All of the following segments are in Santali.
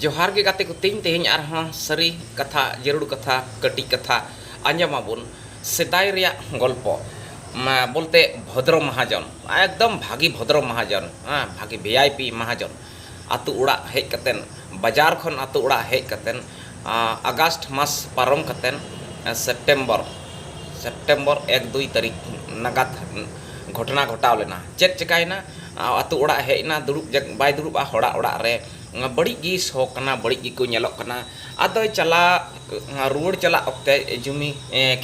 ᱡᱚᱦᱟᱨ ᱜᱮ ᱜᱟᱛᱮ ᱠᱚ ᱛᱤᱧ ᱛᱮᱦᱮᱧ ᱟᱨᱦᱚᱸ ᱥᱟᱹᱨᱤ ᱠᱟᱛᱷᱟ ᱡᱟᱹᱨᱩᱲ ᱠᱟᱛᱷᱟ ᱠᱟᱹᱴᱤᱡ ᱠᱟᱛᱷᱟ ᱟᱸᱡᱚᱢ ᱟᱵᱚᱱ ᱥᱮᱫᱟᱭ ᱨᱮᱭᱟᱜ ᱜᱚᱞᱯᱚ ᱵᱚᱞᱛᱮ ᱵᱷᱚᱫᱨᱚ ᱢᱟᱦᱟᱡᱚᱱ ᱮᱠᱫᱚᱢ ᱵᱷᱟᱹᱜᱤ ᱵᱷᱚᱫᱨᱚ ᱢᱟᱦᱟᱡᱚᱱ ᱵᱷᱟᱹᱜᱤ ᱵᱷᱤ ᱟᱭ ᱯᱤ ᱢᱟᱦᱟᱡᱚᱱ ᱟᱹᱛᱩ ᱚᱲᱟᱜ ᱦᱮᱡ ᱠᱟᱛᱮ ᱵᱟᱡᱟᱨ ᱠᱷᱚᱱ ᱟᱹᱛᱩ ᱚᱲᱟᱜ ᱦᱮᱡ ᱠᱟᱛᱮ ᱟᱜᱚᱥᱴ ᱢᱟᱥ ᱯᱟᱨᱚᱢ ᱠᱟᱛᱮ ᱥᱮᱯᱴᱮᱢᱵᱚᱨ ᱥᱮᱯᱴᱮᱢᱵᱚᱨ ᱮᱠ ᱫᱩᱭ ᱛᱟᱹᱨᱤᱠᱷ ᱱᱟᱜᱟᱫ ᱜᱷᱚᱴᱱᱟ ᱜᱷᱚᱴᱟᱣ ᱞᱮᱱᱟ ᱪᱮᱫ ᱪᱮᱠᱟᱭᱮᱱᱟ ᱟᱛᱳ ᱚᱲᱟᱜ ᱦᱮᱡ ᱮᱱᱟ ᱫᱩᱲᱩᱵ ᱵᱟᱭ ᱫᱩᱲᱩᱵᱼᱟ ᱦᱚᱲᱟᱜ ᱚᱲᱟᱜ ᱨᱮ ᱵᱟᱹᱲᱤᱡ ᱜᱮ ᱥᱚ ᱠᱟᱱᱟ ᱵᱟᱹᱲᱤᱡ ᱜᱮᱠᱚ ᱧᱮᱞᱚᱜ ᱠᱟᱱᱟ ᱟᱫᱚᱭ ᱪᱟᱞᱟᱜ ᱨᱩᱣᱟᱹᱲ ᱪᱟᱞᱟᱜ ᱚᱠᱛᱮ ᱡᱩᱢᱤ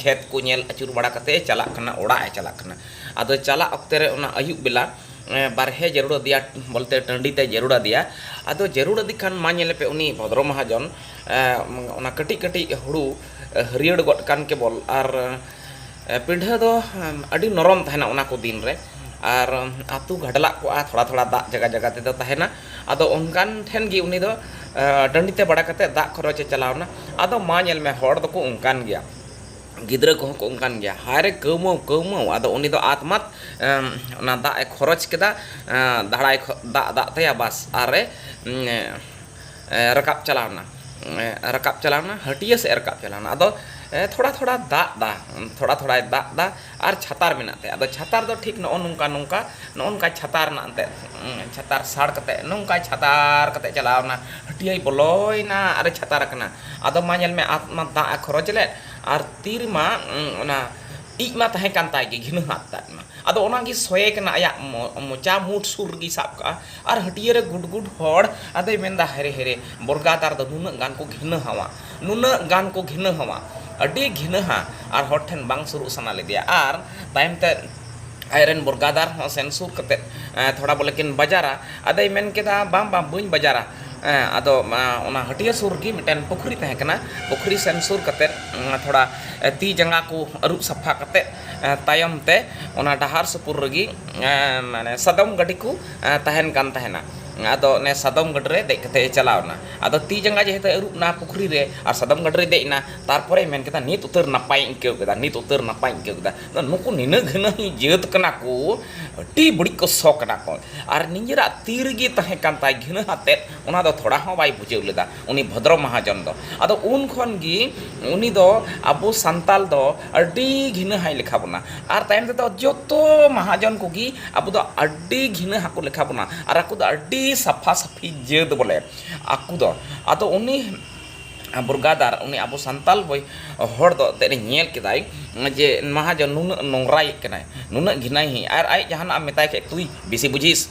ᱠᱷᱮᱛ ᱠᱚ ᱧᱮᱞ ᱟᱹᱪᱩᱨ ᱵᱟᱲᱟ ᱠᱟᱛᱮ ᱮ ᱪᱟᱞᱟᱜ ᱠᱟᱱᱟ ᱚᱲᱟᱜ ᱮ ᱪᱟᱞᱟᱜ ᱠᱟᱱᱟ ᱟᱫᱚ ᱪᱟᱞᱟᱜ ᱚᱠᱛᱮ ᱨᱮ ᱚᱱᱟ ᱟᱹᱭᱩᱵ ᱵᱮᱞᱟ ᱵᱟᱨᱦᱮ ᱡᱟᱹᱨᱩᱲ ᱟᱫᱮᱭᱟ ᱵᱚᱞᱛᱮ ᱴᱟᱺᱰᱤ ᱛᱮ ᱡᱟᱹᱨᱩᱲ ᱟᱫᱮᱭᱟ ᱟᱫᱚ ᱡᱟᱹᱨᱩᱲ ᱟᱫᱮ ᱠᱷᱟᱱ ᱢᱟ ᱧᱮᱞᱮ ᱯᱮ ᱩᱱᱤ ᱵᱷᱚᱫᱽᱨᱚ ᱢᱚᱦᱟᱡᱚᱱ ᱚᱱᱟ ᱠᱟᱹᱴᱤᱡ ᱠᱟᱹᱴᱤᱡ ᱦᱩᱲᱩ ᱦᱟᱹᱨᱭᱟᱹᱲ ᱜᱚᱫ ᱠᱟᱱ ᱠᱮᱵᱚᱞ ᱟᱨ ᱯᱤᱰᱷᱟᱹ ᱫᱚ ᱟᱹᱰᱤ ᱱᱚᱨᱚᱢ ᱛᱟᱦᱮᱱᱟ ᱚᱱᱟ ᱠᱚ ᱫᱤᱱ ᱨᱮ ᱟᱨ ᱟᱹᱛᱩ ᱜᱷᱟᱰᱞᱟᱜ ᱠᱚᱜᱼᱟ ᱛᱷᱚᱲᱟ ᱛᱷᱚᱲᱟ ᱫᱟᱜ ᱡᱟᱭᱜᱟ ᱡᱟᱭᱜᱟ ᱛᱮᱫᱚ ᱛᱟᱦᱮᱱᱟ ᱟᱫᱚ ᱚᱱᱠᱟᱱ ᱴᱷᱮᱱ ᱜᱮ ᱩᱱᱤ ᱫᱚ ᱰᱟᱹᱰᱤ ᱛᱮ ᱵᱟᱲᱟ ᱠᱟᱛᱮᱫ ᱫᱟᱜ ᱠᱷᱚᱨᱚᱪ ᱮ ᱪᱟᱞᱟᱣ ᱮᱱᱟ ᱟᱫᱚ ᱢᱟ ᱧᱮᱞ ᱢᱮ ᱦᱚᱲ ᱫᱚᱠᱚ ᱚᱱᱠᱟᱱ ᱜᱮᱭᱟ ᱜᱤᱫᱽᱨᱟᱹ ᱠᱚᱦᱚᱸ ᱠᱚ ᱚᱱᱠᱟᱱ ᱜᱮᱭᱟ ᱦᱟᱭᱨᱮ ᱠᱟᱹᱣᱢᱟᱹᱣ ᱠᱟᱹᱣᱢᱟᱹᱣ ᱟᱫᱚ ᱩᱱᱤ ᱫᱚ ᱟᱫ ᱢᱟᱫ ᱚᱱᱟ ᱫᱟᱜ ᱮ ᱠᱷᱚᱨᱚᱪ ᱠᱮᱫᱟ ᱫᱟᱜ ᱫᱟᱜ ᱛᱟᱭᱟ ᱵᱟᱥ ᱟᱨᱮ ᱨᱟᱠᱟᱵ ᱪᱟᱞᱟᱣ ᱮᱱᱟ ᱨᱟᱠᱟᱵ ᱪᱟᱞᱟᱣ ᱮᱱᱟ ᱦᱟᱹᱴᱤᱭᱟᱹ ᱥᱮᱫ ᱨᱟᱠᱟᱵ ᱪᱟᱞᱟᱣ ᱮᱱᱟ ᱟᱫᱚ ᱛᱷᱚᱲᱟ ᱛᱷᱚᱲᱟ ᱫᱟᱜ ᱮᱫᱟ ᱛᱷᱚᱲᱟ ᱛᱷᱚᱲᱟᱭ ᱫᱟᱜ ᱮᱫᱟ ᱟᱨ ᱪᱷᱟᱛᱟᱨ ᱢᱮᱱᱟᱜ ᱛᱟᱭᱟ ᱟᱫᱚ ᱪᱷᱟᱛᱟᱨ ᱫᱚ ᱴᱷᱤᱠ ᱱᱚᱜᱼᱚ ᱱᱚᱝᱠᱟ ᱱᱚᱝᱠᱟ ᱱᱚᱜᱼᱚ ᱱᱚᱝᱠᱟ ᱪᱷᱟᱛᱟᱨ ᱨᱮᱱᱟᱜ ᱮᱱᱛᱮᱫ ᱪᱷᱟᱛᱟᱨ ᱥᱟᱲ ᱠᱟᱛᱮᱫ ᱱᱚᱝᱠᱟ ᱪᱷᱟᱛᱟᱨ ᱠᱟᱛᱮᱫ ᱪᱟᱞᱟᱣ ᱮᱱᱟ ᱦᱟᱹᱴᱤᱭᱟᱹᱭ ᱵᱚᱞᱚᱭᱮᱱᱟ ᱟᱨᱮ ᱪᱷᱟᱛᱟᱨ ᱟᱠᱟᱱᱟ ᱟᱫᱚ ᱢᱟ ᱧᱮᱞ ᱢᱮ ᱟᱫ ᱢᱟ ᱫᱟᱜ ᱮ ᱠᱷᱚᱨᱚᱪ ᱞᱮᱫ ᱟᱨ ᱛᱤ ᱨᱮᱢᱟ ᱚᱱᱟ ᱤᱡ ᱢᱟ ᱛᱟᱦᱮᱸ ᱠᱟᱱ ᱛᱟᱭ ᱜᱮ ᱜᱷᱤᱱᱟᱹ ᱦᱟᱜ ᱛᱟᱭ ᱢᱟ ᱟᱫᱚ ᱚᱱᱟᱜᱮ ᱥᱚᱭᱮ ᱠᱟᱱᱟ ᱟᱭᱟᱜ ᱢᱚᱪᱟ ᱢᱩᱸ ᱥᱩᱨ ᱨᱮᱜᱮᱭ ᱥᱟᱵ ᱠᱟᱜᱼᱟ ᱟᱨ ᱦᱟᱹᱴᱤᱭᱟᱹ ᱨᱮ ᱜᱩᱰ ᱜᱩᱰ ᱦᱚᱲ ᱟᱫᱚᱭ ᱢᱮᱱ ᱮᱫᱟ ᱦᱟᱭᱨᱮ ᱦᱟᱭᱨᱮ ᱵᱚᱨᱜᱟᱫᱟᱨ ᱫᱚ ᱱᱩᱱᱟᱹᱜ ᱜᱟᱱ ᱠᱚ ᱜᱷᱤᱱᱟᱹ ᱦᱟᱣᱟ ᱱᱩᱱᱟᱹᱜ ᱜᱟᱱ ᱠᱚ ᱜᱷᱤᱱᱟᱹ ᱦᱟᱣᱟ ᱟᱹᱰᱤ ᱜᱷᱤᱱᱟᱹᱦᱟ ᱟᱨ ᱦᱚᱲ ᱴᱷᱮᱱ ᱵᱟᱝ ᱥᱩᱨᱩᱜ ᱥᱟᱱᱟ ᱞᱮᱫᱮᱭᱟ ᱟᱨ ᱛᱟᱭᱚᱢ ᱛᱮ ᱟᱡ ᱨᱮᱱ ᱵᱚᱨᱜᱟᱫᱟᱨ ᱦᱚᱸ ᱥᱮᱱ ᱥᱩᱨ ᱠᱟᱛᱮ ᱛᱷᱚᱲᱟ ᱵᱚᱞᱮ ᱠᱤᱱ ᱵᱟᱡᱟᱨᱟ ᱟᱫᱚᱭ ᱢᱮᱱ ᱠᱮᱫᱟ ᱵᱟᱝ ᱵᱟᱝ ᱵᱟᱹᱧ ᱵᱟᱡᱟᱨᱟ ᱟᱫᱚ ᱚᱱᱟ ᱦᱟᱹᱴᱤᱭᱟᱹ ᱥᱩᱨ ᱨᱮᱜᱮ ᱢᱤᱫᱴᱮᱱ ᱯᱩᱠᱷᱨᱤ ᱛᱟᱦᱮᱸ ᱠᱟᱱᱟ ᱯᱩᱠᱷᱨᱤ ᱥᱮᱱ ᱥᱩᱨ ᱠᱟᱛᱮ ᱛᱷᱚᱲᱟ ᱛᱤ ᱡᱟᱸᱜᱟ ᱠᱚ ᱟᱹᱨᱩᱵ ᱥᱟᱯᱷᱟ ᱠᱟᱛᱮ ᱛᱟᱭᱚᱢ ᱛᱮ ᱚᱱᱟ ᱰᱟᱦᱟᱨ ᱥᱩᱯᱩᱨ ᱨᱮᱜᱮ ᱢᱟᱱᱮ ᱥᱟᱫᱚᱢ ᱜᱟᱹᱰᱤ ᱠᱚ ᱛᱟᱦᱮᱱ ᱠᱟᱱ ᱛᱟᱦᱮᱱᱟ ᱟᱫᱚ ᱚᱱᱮ ᱥᱟᱫᱚᱢ ᱜᱟᱹᱰᱤ ᱨᱮ ᱫᱮᱡ ᱠᱟᱛᱮ ᱪᱟᱞᱟᱣ ᱮᱱᱟ ᱟᱫᱚ ᱛᱤ ᱡᱟᱸᱜᱟ ᱡᱮᱦᱮᱛᱩ ᱟᱹᱨᱩᱵ ᱮᱱᱟ ᱯᱩᱠᱷᱨᱤ ᱨᱮ ᱟᱨ ᱥᱟᱫᱚᱢ ᱜᱟᱹᱰᱤ ᱨᱮ ᱫᱮᱡ ᱮᱱᱟ ᱛᱟᱨᱯᱚᱨᱮ ᱢᱮᱱ ᱠᱮᱫᱟ ᱱᱤᱛ ᱩᱛᱟᱹᱨ ᱱᱟᱯᱟᱭ ᱤᱧ ᱟᱹᱭᱠᱟᱹᱣ ᱠᱮᱫᱟ ᱱᱤᱛ ᱩᱛᱟᱹᱨ ᱱᱟᱯᱟᱭ ᱤᱧ ᱟᱹᱭᱠᱟᱹᱣ ᱠᱮᱫᱟ ᱟᱫᱚ ᱱᱩᱠᱩ ᱱᱤᱱᱟᱹᱜ ᱜᱷᱟᱹᱱᱟᱹᱱᱤ ᱡᱟᱹᱛ ᱠᱟᱱᱟ ᱠᱚ ᱟᱹᱰᱤ ᱵᱟᱹᱲᱤᱡ ᱠᱚ ᱥᱚ ᱠᱟᱱᱟ ᱠᱚ ᱟᱨ ᱱᱤᱡᱮᱨᱟᱜ ᱛᱤ ᱨᱮᱜᱮ ᱛᱟᱦᱮᱸ ᱠᱟᱱ ᱛᱟᱭ ᱜᱷᱟᱹᱱᱟᱹᱱ ᱟᱛᱮᱫ ᱚᱱᱟ ᱫᱚ ᱛᱷᱚᱲᱟ ᱦᱚᱸ ᱵᱟᱭ ᱵᱩᱡᱷᱟᱹᱣ ᱞᱮᱫᱟ ᱩᱱᱤ ᱵᱷᱚᱫᱨᱚ ᱢᱟᱦᱟᱡᱚᱱ ᱫᱚ ᱟᱫᱚ ᱩᱱ ᱠᱷᱚᱱ ᱜᱮ ᱩᱱᱤ ᱫᱚ ᱟᱵᱚ ᱥᱟᱱᱛᱟᱞ ᱫᱚ ᱟᱹᱰᱤ ᱜᱷᱤᱱᱟᱹ ᱦᱟᱭ ᱞᱮᱠᱷᱟ ᱵᱚᱱᱟ ᱟᱨ ᱛᱟᱭᱚᱢ ᱛᱮᱫᱚ ᱡᱚᱛᱚ ᱢᱟᱦᱟᱡᱚᱱ ᱠᱚᱜᱮ ᱟᱵᱚ ᱫᱚ ᱟᱹᱰᱤ ᱜᱷᱤᱱᱟᱹ ᱦᱟᱠᱚ ᱞᱮᱠᱷᱟ ᱵᱚᱱᱟ ᱟᱨ ᱟᱠᱚ ᱫᱚ ᱟᱹᱰᱤ ᱥᱟᱯᱷᱟ ᱥᱟᱹᱯᱷᱤ ᱡᱟᱹᱛ ᱵᱚᱞᱮ ᱟᱠᱚ ᱫᱚ ᱟᱫᱚ ᱩᱱᱤ ᱵᱩᱨᱜᱟᱫᱟᱨ ᱩᱱᱤ ᱟᱵᱚ ᱥᱟᱱᱛᱟᱞ ᱵᱚᱭ ᱦᱚᱲ ᱫᱚ ᱮᱱᱛᱮᱫ ᱮ ᱧᱮᱞ ᱠᱮᱫᱟᱭ ᱡᱮ ᱢᱟᱦᱟᱡᱚᱱ ᱱᱩᱱᱟᱹᱜ ᱱᱚᱝᱨᱟᱭᱮᱫ ᱠᱟᱱᱟᱭ ᱱᱩᱱᱟᱹᱜ ᱜᱷᱤᱱᱟᱹᱭᱮᱫ ᱠᱟᱱᱟᱭ ᱟᱨ ᱟᱡ ᱡᱟᱦᱟᱱᱟᱜ ᱮᱢ ᱢᱮᱛᱟᱭ ᱠᱷᱟᱱ ᱛᱩᱭ ᱵᱮᱥᱤ ᱵᱩᱡᱷᱤᱥ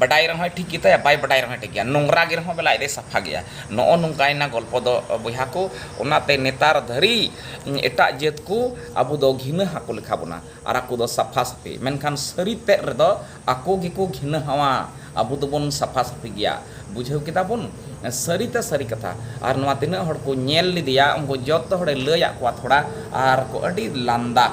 ᱵᱟᱰᱟᱭ ᱨᱮᱦᱚᱸᱭ ᱴᱷᱤᱠ ᱜᱮᱛᱟᱭᱟ ᱵᱟᱭ ᱵᱟᱰᱟᱭ ᱨᱮᱦᱚᱸᱭ ᱴᱷᱤᱠ ᱜᱮᱭᱟ ᱱᱚᱝᱨᱟ ᱜᱮ ᱨᱮᱦᱚᱸ ᱵᱮᱞᱟ ᱟᱡ ᱫᱚᱭ ᱥᱟᱯᱷᱟ ᱜᱮᱭᱟ ᱱᱚᱜᱼᱚ ᱱᱚᱝᱠᱟᱭᱮᱱᱟ ᱜᱚᱞᱯᱚ ᱫᱚ ᱵᱚᱭᱦᱟ ᱠᱚ ᱚᱱᱟᱛᱮ ᱱᱮᱛᱟᱨ ᱫᱷᱟᱹᱨᱤᱡ ᱮᱴᱟᱜ ᱡᱟᱹᱛ ᱠᱚ ᱟᱵᱚ ᱫᱚ ᱜᱷᱤᱱᱟᱹ ᱦᱟᱠᱚ ᱞᱮᱠᱷᱟ ᱵᱚᱱᱟ ᱟᱨ ᱟᱠᱚ ᱫᱚ ᱥᱟᱯᱷᱟ ᱥᱟᱹᱯᱷᱤ ᱢᱮᱱᱠᱷᱟᱱ ᱥᱟᱹᱨᱤ ᱛᱮᱫ ᱨᱮᱫᱚ ᱟᱠᱚ ᱜᱮᱠᱚ ᱜᱷᱤᱱᱟᱹ ᱦᱟᱣᱟ ᱟᱵᱚ ᱫᱚᱵᱚᱱ ᱥᱟᱯᱷᱟ ᱥᱟᱹᱯᱷᱤ ᱜᱮᱭᱟ ᱵᱩᱡᱷᱟᱹᱣ ᱠᱮᱫᱟ ᱵᱚᱱ ᱥᱟᱹᱨᱤ ᱛᱮ ᱥᱟᱹᱨᱤ ᱠᱟᱛᱷᱟ ᱟᱨ ᱱᱚᱣᱟ ᱛᱤᱱᱟᱹᱜ ᱦᱚᱲ ᱠᱚ ᱧᱮᱞ ᱞᱮᱫᱮᱭᱟ ᱩᱱᱠᱩ ᱡᱚᱛᱚ ᱦᱚᱲᱮ ᱞᱟᱹᱭᱟᱫ ᱠᱚᱣᱟ ᱛᱷᱚᱲᱟ ᱟᱨ ᱠᱚ ᱟᱹᱰᱤ ᱞᱟᱸᱫᱟ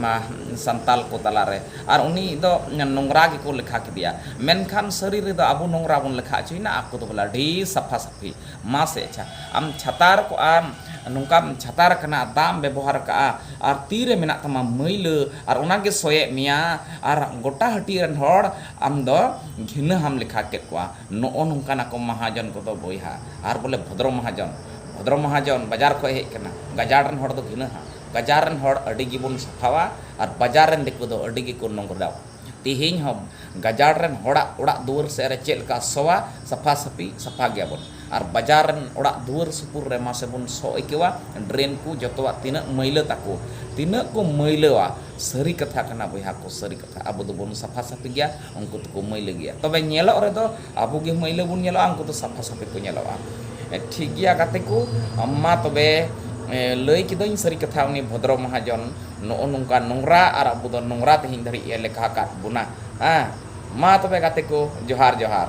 ᱢᱟ ᱥᱟᱱᱛᱟᱞ ᱠᱚ ᱛᱟᱞᱟ ᱨᱮ ᱟᱨ ᱩᱱᱤ ᱫᱚ ᱱᱚᱝᱨᱟ ᱜᱮᱠᱚ ᱞᱮᱠᱷᱟ ᱠᱮᱫᱮᱭᱟ ᱢᱮᱱᱠᱷᱟᱱ ᱥᱟᱹᱨᱤ ᱨᱮᱫᱚ ᱟᱵᱚ ᱱᱚᱝᱨᱟ ᱵᱚᱱ ᱞᱮᱠᱷᱟ ᱚᱪᱚᱭᱮᱱᱟ ᱟᱠᱚ ᱫᱚ ᱵᱚᱞᱮ ᱟᱹᱰᱤ ᱥᱟᱯᱷᱟ ᱥᱟᱹᱯᱷᱤ ᱢᱟᱥᱮ ᱟᱪᱪᱷᱟ ᱟᱢ ᱪᱷᱟᱛᱟᱨ ᱠᱚᱜ ᱟᱢ ᱱᱚᱝᱠᱟᱢ ᱪᱷᱟᱛᱟᱨ ᱟᱠᱟᱱᱟ ᱫᱟᱜ ᱮᱢ ᱵᱮᱵᱚᱦᱟᱨ ᱟᱠᱟᱫᱼᱟ ᱟᱨ ᱛᱤ ᱨᱮ ᱢᱮᱱᱟᱜ ᱛᱟᱢᱟ ᱢᱟᱹᱭᱞᱟᱹ ᱟᱨ ᱚᱱᱟ ᱜᱮ ᱥᱚᱭᱮᱫ ᱢᱮᱭᱟ ᱟᱨ ᱜᱚᱴᱟ ᱦᱟᱹᱴᱤᱭᱟᱹ ᱨᱮᱱ ᱦᱚᱲ ᱟᱢ ᱫᱚ ᱜᱷᱤᱱᱟᱹ ᱦᱟᱢ ᱞᱮᱠᱷᱟ ᱠᱮᱫ ᱠᱚᱣᱟ ᱱᱚᱜᱼᱚ ᱱᱚᱝᱠᱟᱱ ᱟᱠᱚ ᱢᱟᱦᱟᱡᱚᱱ ᱠᱚᱫᱚ ᱵᱚᱭᱦᱟ ᱟᱨ ᱵᱚᱞᱮ ᱵᱷᱚᱫᱽᱨᱚ ᱢᱟᱦᱟᱡᱚᱱ ᱵᱷᱚᱫᱽᱨᱚ ᱢᱟᱦᱟᱡᱚᱱ ᱵᱟᱡᱟᱨ ᱠᱷᱚᱱ ᱦᱮᱡ ᱟᱠᱟᱱᱟ ᱜᱟᱡᱟᱲ ᱨᱮᱱ ᱦᱚᱲ ᱫᱚ ᱜᱷᱤᱱᱟᱹ ᱦᱟᱢ ᱜᱟᱡᱟᱲ ᱨᱮᱱ ᱦᱚᱲ ᱟᱹᱰᱤ ᱜᱮᱵᱚᱱ ᱥᱟᱯᱷᱟᱣᱟ ᱟᱨ ᱵᱟᱡᱟᱨ ᱨᱮᱱ ᱫᱤᱠᱩ ᱫᱚ ᱟᱹᱰᱤ ᱜᱮᱠᱚ ᱱᱚᱝᱨᱟᱣᱟ᱾ ᱛᱤᱦᱤᱧ ᱦᱚᱸ ᱜᱟᱡᱟᱲ ᱨᱮᱱ ᱦᱚᱲᱟᱜ ᱚᱲᱟᱜ ᱫᱩᱣᱟᱹᱨ ᱥᱮᱫ ᱨᱮ ᱪᱮᱫ ᱞᱮᱠᱟ ᱥᱚᱣᱟ ᱥᱟᱯᱷᱟ ᱥᱟᱹᱯᱷᱤ ᱥᱟᱯᱷᱟ ᱜᱮᱭᱟ ᱵᱚᱱ ᱟᱨ ᱵᱟᱡᱟᱨ ᱨᱮᱱ ᱚᱲᱟᱜ ᱫᱩᱣᱟᱹᱨ ᱥᱩᱯᱩᱨ ᱨᱮ ᱢᱟᱥᱮ ᱵᱚᱱ ᱥᱚ ᱟᱹᱭᱠᱟᱹᱣᱟ ᱰᱨᱮᱱ ᱠᱚ ᱡᱚᱛᱚᱣᱟᱜ ᱛᱤᱱᱟᱹᱜ ᱢᱟᱹᱭᱞᱟᱹ ᱛᱟᱠᱚ ᱛᱤᱱᱟᱹᱜ ᱠᱚ ᱢᱟᱹᱭᱞᱟᱹᱣᱟ ᱥᱟᱹᱨᱤ ᱠᱟᱛᱷᱟ ᱠᱟᱱᱟ ᱵᱚᱭᱦᱟ ᱠᱚ ᱥᱟᱹᱨᱤ ᱠᱟᱛᱷᱟ ᱟᱵᱚ ᱫᱚᱵᱚᱱ ᱥᱟᱯᱷᱟ ᱥᱟᱹᱯᱷᱤ ᱜᱮᱭᱟ ᱩᱱᱠᱩ ᱫᱚᱠᱚ ᱢᱟᱹᱭᱞᱟᱹ ᱜᱮᱭᱟ ᱛᱚᱵᱮ ᱧᱮᱞᱚᱜ ᱨᱮᱫᱚ ᱟᱵᱚ ᱜᱮ ᱢᱟᱹᱭᱞᱟᱹ ᱵᱚᱱ ᱧᱮᱞᱚᱜᱼᱟ ᱩᱱᱠᱩ ᱫᱚ ᱥᱟᱯᱷᱟ ᱥᱟᱯᱷᱤ ᱠᱚ ᱧᱮᱞᱚᱜᱼᱟ ᱴᱷᱤᱠ ᱜᱮᱭᱟ ᱜᱟᱛᱮ ᱠᱚ ᱢᱟ ᱛᱚᱵᱮ ᱞᱟᱹᱭ ᱠᱤᱫᱟᱹᱧ ᱥᱟᱹᱨᱤ ᱠᱟᱛᱷᱟ ᱩᱱᱤ ᱵᱷᱚᱫᱨᱚ ᱢᱚᱦᱟᱡᱚᱱ ᱱᱚᱜᱼᱚ ᱱᱚᱝᱠᱟ ᱱᱚᱝᱨᱟ ᱟᱨ ᱟᱵᱚ ᱫᱚ ᱱᱚᱝᱨᱟ ᱛᱮᱦᱮᱧ ᱫᱷᱟᱹᱨᱤᱡ ᱮ ᱞᱮᱠᱷᱟ ᱟᱠᱟᱫ ᱵᱚᱱᱟ ᱦᱮᱸ ᱢᱟ ᱛᱚᱵᱮ ᱜᱟᱛᱮ ᱠᱚ ᱡᱚᱦᱟᱨ ᱡᱚᱦᱟᱨ